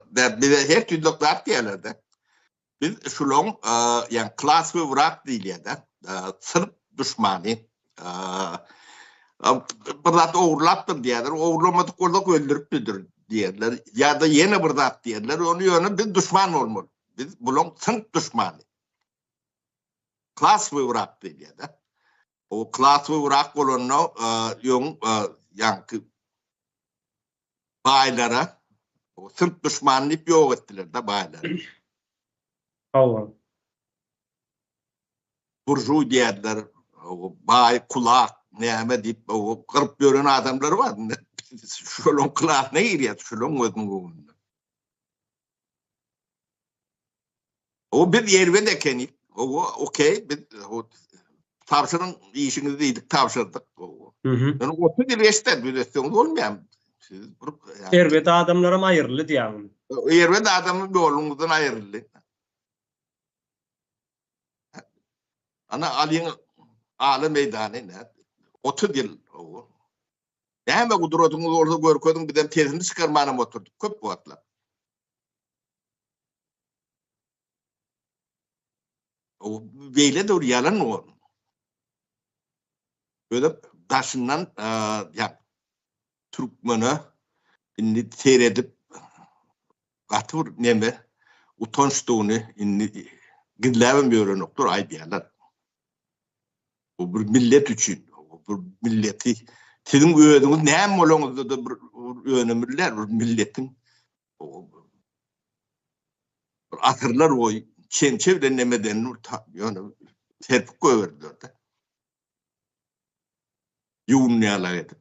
Biz bize her türlü zat diýerler-de. Biz şulaň, ýa klas we wrak diýilýär-de, syrp duşmany. Bir zat ogurlapdyr diýerler, ogurlamadyk bolsak öldüripdir diýerler. Ýa-da ýene bir zat diýerler, ony ýöne biz duşman bolmaly. Biz bulaň syrp duşmany. Klas we wrak diýilýär-de. O klas we wrak bolanda ýoň, ýa baýlara o türk duşmany diýip ýok etdiler da baýlary. Hawa. Burjuý diýerler, baý kulak näme diýip o gyryp ýören adamlar bar. Şolaň kulagyna girýär, şolaň gözüň öňünde. O biz ýerbet ekeni. Owo, okey, biz tabşyryň işiňizi diýdik, tabşyrdyk. Owo. Ýöne 30 ýyl geçdi, düzetseňiz bolmaýam. Siz bir ýerbet adamlaram aýryldy diýýäň. Ýerbet adamy ýoluňyzdan aýryldy. Ana alyň ala meýdany nädip? 30 ýyl. Owo. Näme gudratyňyz bolsa görkeziň bizem sesini çykarmanam oturdyk köp wagtlap. O beýle dur ýalan o. Böyle daşyndan ýa türkmene indi seredip gaty bir neme utançdygyny indi gizläbem ýörenokdyr aýdýarlar. Bu bir millet üçin, bu milleti siziň özüňiz näme bolaňyzda-da bir önemliler, bir milletiň bir asyrlar boýy çemçe bilen näme edenini ýöne serpip goýberdiler-de. Ýuwunýarlar edip.